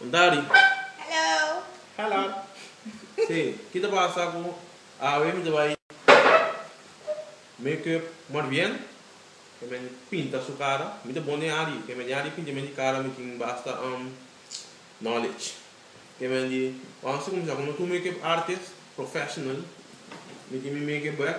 Un tadi. Hello. Sí, ki ta pasa cu awe mi ta bay make up more bien, ke men pinta su cara, mi ta bon den adi, ke men den adi pintiamen di cara mi tin basta knowledge, ke men di wans ta cuminsa cu no tur make up artist professional, mi tin mi make up bek.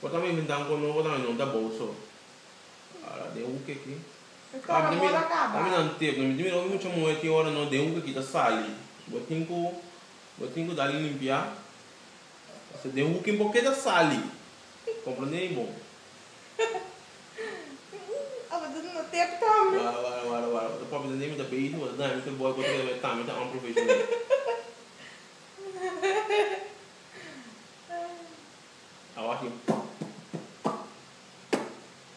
Bo ta mi minta anko no bo ta mi no ta bou so ara den hoek aki ta mi na tep na mi ti mira oki mucha muhe tin ora no den hoek aki ta sali bo tin ku bo tin ku dal limpia paske den hoek bo ke ta sali komprende mi bon wara wara wara wara bo ta papia den mi ta bezi bo ta daña mi fe boy bo ta kere meta mi ta unprofessional. A wak yo.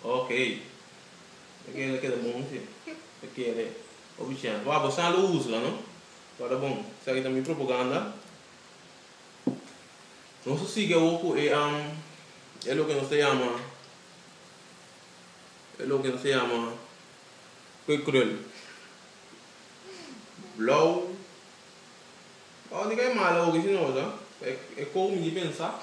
Ok. E kere lo keda bon si e kere. Oh Bichèn. Wak bo sa lo usa la no. Lo a ta bon. Esaki ta mi propoganda. Nos a sigui awo ku e e loke nos ta yama e loke nos ta yama kwekrel. Blou. Pa ondi ka e mala hopi si nos a? Pa e kou mi di pensa.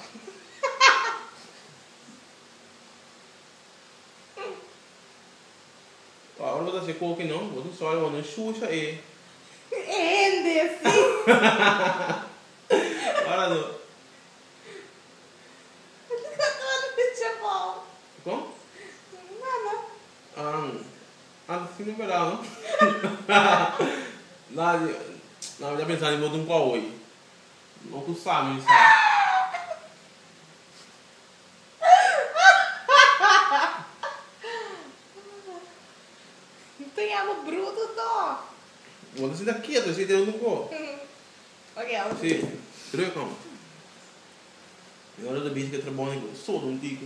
Wou ora bo ta si e kou aki no bo tin sual wou no shusha e hende si. Ora no. Ora no e chapao. Kon? Nada. Ang. Antes tin novedad no nan ya pensa di bo tin cu a oi no cu sami ni sa Te yama bruto tok. Bo ta sinta keto si tin un tin cu Ok awe si druk amo. Mi ora ta bisti cu e trabou ni cu ta sodo un tico.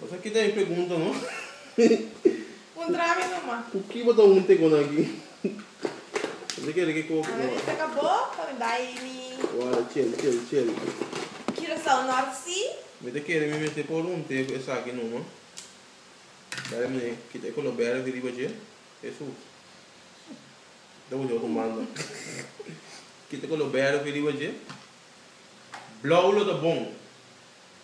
Nos a keda e pregunta no. Un trabe noma. Cu ki bo ta hunte con aki? Mester kere ke cosa no. Analiza ka bo pa mi bay mi. Wala chel chel chel. Curaçao North Sea. Mi ta kere mi mester por hunte cu esaki noma. Bay mi mester kita e color berde di riba dje. Hesus. Ta hunte otro manda. Kita color berde di riba dje. Blauw lo ta bon.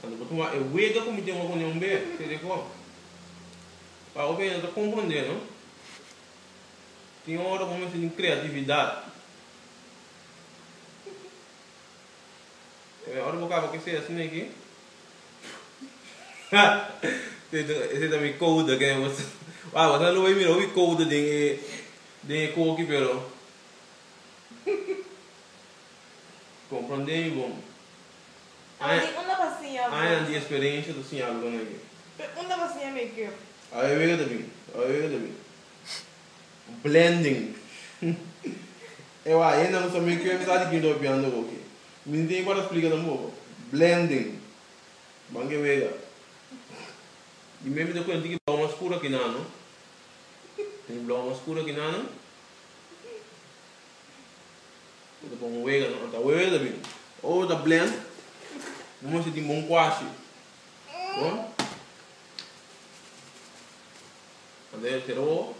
Cuando bo ta wak e wega cu mi tin runion be telefon pa bo bira ta comprende no. Tin ora cu bo mester tin creatividad. Ora bo caba cu esey asina aki. Esey ta mi code aki. Wauw asina lo bay mira hopi code den e coki pero comprende mi bon. Añanan di experiencia ta siña algo aki. Awe wega ta bin. Blending E wak hende a mester mi ku e mester sa di kin ta hopiando hopi. Mi no tin e ku a ta splica tampoco. Blending Ban ke wega. Di mi e mester kuenta ki blou mas scuro aki nan no. Tin blou mas scuro aki nan no. Mi ta bon wega no. An ta wega ta bin. O ta blend bo mester tin bon kuashi. Cuando ella quedó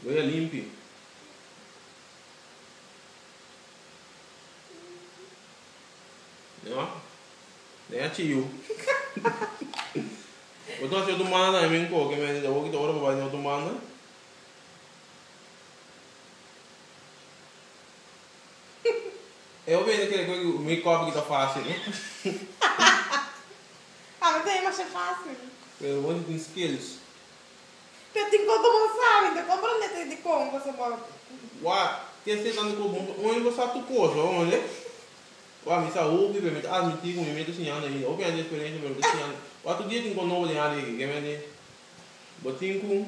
Wea limpi. Nea nea chiu Bo ta haci otro manda na mi coke me di awor ki ta ora pa bay den otro manda. E omi ey no kere cu mi copi ki ta facil no. Pa mi ta demasha facil. Pero bo no tin skills. Pero tin cos bo no sabi. Nta compra un letra di con cosa bo. Wha tin hasi tanto cos bo no ta oe bo sa tur cosa honde. Wha mi sa hopi pero mi ta admiti cu mi mey ta siñando ainda. Hopi ante experiencia pero mi ta siñando. Wha tur dia tin cos nobo den Harry aki. Keme di bo tin cu.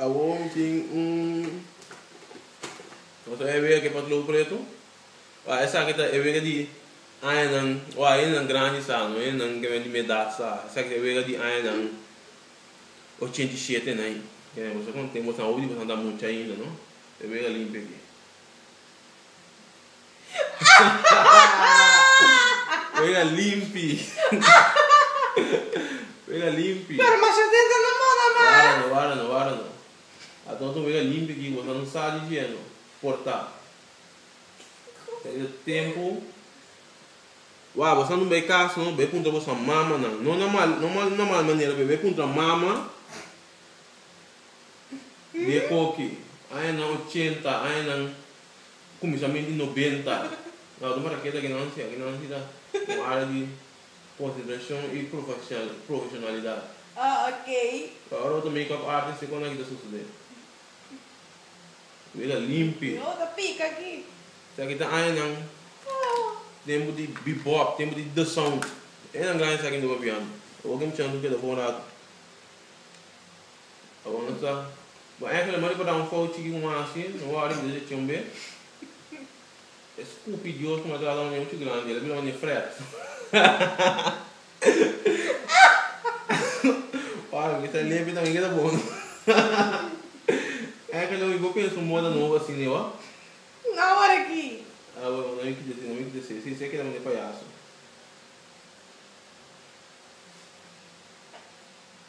Awor mi tin un cosa e wega ke patlou pretu. Wak esaki ta e wega di añanan, wak añanan grandi sa, no añanan ke di miedad sa. Esaki ta e wega di añanan ochenta i shete en ai. Kende ku bo konta, boso a hopi di boso a ta mucha ainda, no. E wega limpi aki. Oye a limpi. Oye a limpi. Pero masha dente no mora mas. Wara no, wara no, wara no. A tor tin oye a limpi aki boso no sa di dje no. Porta. Perde tempo. Wara boso no bay cas no bay puntra boso mamanan. No na mal, no na mal manera pero bay puntra mama di e coki. Añanan ochenta, añanan. Kuminsamentu di nobenta na Ruma ta keda Genansi. Genansi ta un área di konsentrashon i profeshonalidat. Pero ora bo ta make up artis, kiko na ki ta sosodé? Bo ta limpi. Sa ki ta añanan tempu di bebop, tempu di The Sound. Enan gran esaki no babiando. Ora bo keda un chans bo keda for un ratu. Pa bo no ta. Bo enkel e mari pa da un fout chiki ku manda si, no wòrdu mi desha chon be. E skupi dios ku matra lònge muchu grandi, el a bira unda ña frèt. Ora ku e ta limpi tambe e keda bon. Enkel omi bo pensa un moda nobo asi ne bo? No wòrdu aki. A bueno, no mi kita si, no mi kita si. Si, si a keda mende payaso.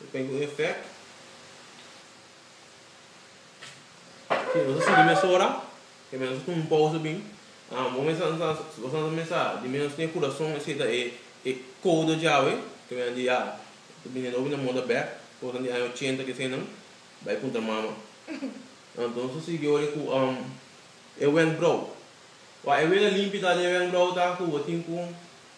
Depende cu effect. Si nos a sigui mesora e mester nos a tuma un pausa bin. Amo mester nos a mester di menos den e curason esey ta e e codo djawe cu nan di ya ta bini nobo y nan muda bek. Cosnan di aña ochenta cu eseynan bay puntra mama. Anto nos a sigui awor cu e wenkbrauw. Wak e wen a limpi ta den e wenkbrauw ta cu bo tin cu.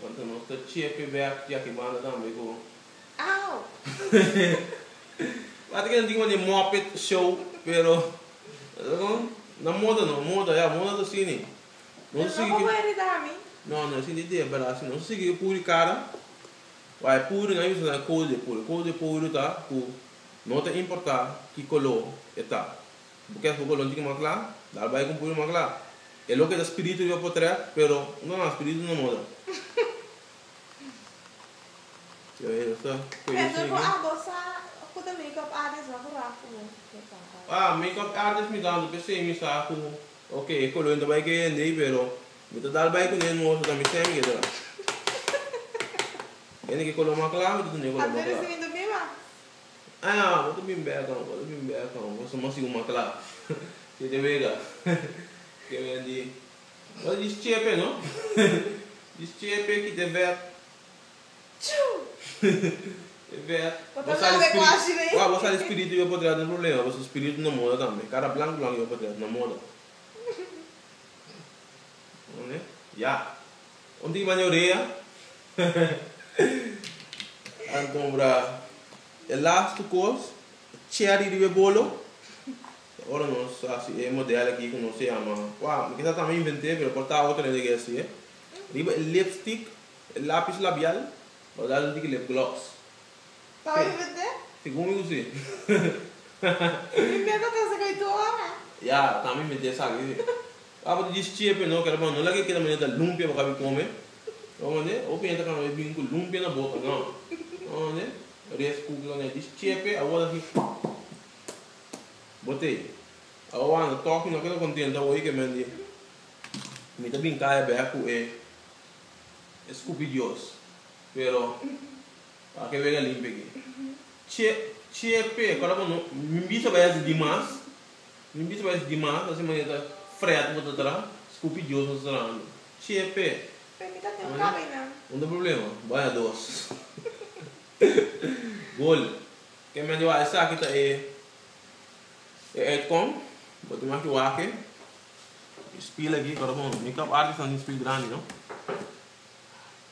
Cuando nos ta chepe bek yaki banda tambe cu Au! Wak ta keda tin mandi Muppet Show pero ta con na moda no moda ya moda ta sini nos ta sigui cu no no esin ta idea bela si nos ta sigui cu puri cara wak e puri nan a bisa nan code de puri code de puri ta cu no ta importa ki color e ta. Bo ke fo ku lonchi ku makla? Dal bai ku un puño makla. E loke ta spiritu riba potrèt, pero no nan spiritu no moda. Kende ku a gosa ku ta makeup artist na ku raf ku bo ke kaba? Ah, makeup artist mi tantu, p'esei mi sa ku oke, e koloen ta bai ku e hende ei, pero mi ta dal bai ku nan no oso, ta mi sèn mi ke dra. Hende ku e kolo makla mi ta tende e kolo makla. Ah, bo ta bin beka no, bo ta bin beka no, bo sa mas yu mak la. Ke ta wega? Ke wega di, bo ta djis chepe no, djis chepe kita e bek. Tjuu! E bek. Bo ta laga e kuashi rei. Bo sali spiritu yu apoderado no problema, pasobra spiritu na moda tambe. Kara blank blank yu apoderado na moda. Oné ya. Un tin baña orea. Alfombra. E las tu cos. Cherry riba e bolo. Ta ora nos haci e model aki cu nos ta yama. Cua mi kisa tambe invente pero por ta otro hende ki hacié. Riba e lipstick. E lapis labial. Lo dal un tin ki lip gloss. Tawata un bete? Tin con mi usa e. Mi meta ta saca e tur ora. Ya, tambe mi meta e saca e. Abo ta djis chepe no, keda no laga e keda manera ta lumpia pa cabi come. Lo mande? Abo pensa ta cana e bini cu lumpia na bota no. Lo mande? Rice cooker cana e djis chepe abo ta haci pap pap pap. Botey. Abo bo anda toki no keda contenta abo yeke men di mi ta binca e bek cu e scupi dios. Pero a ke wega limpe aki. Che che pe kora bo no mi bisa bai hasi dimas mi bisa bai hasi dimas asi manera ta fret bo ta tra skupi Dios no ta trahando che pe Pero mi ta den un kami nan. No ta problema bai a dos gol ke men di wak esaki ta e e uitkom bo tin maki wak e spil aki kora bo no mi kap arki stan den spil grandi no.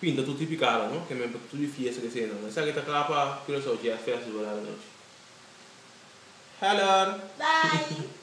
Pinta tur tipi karo, no? Ke men pa tur e fiesta ke sena. No esaki ta kla pa Curaçao Jazz Festival ara nochi. Heller! Bye!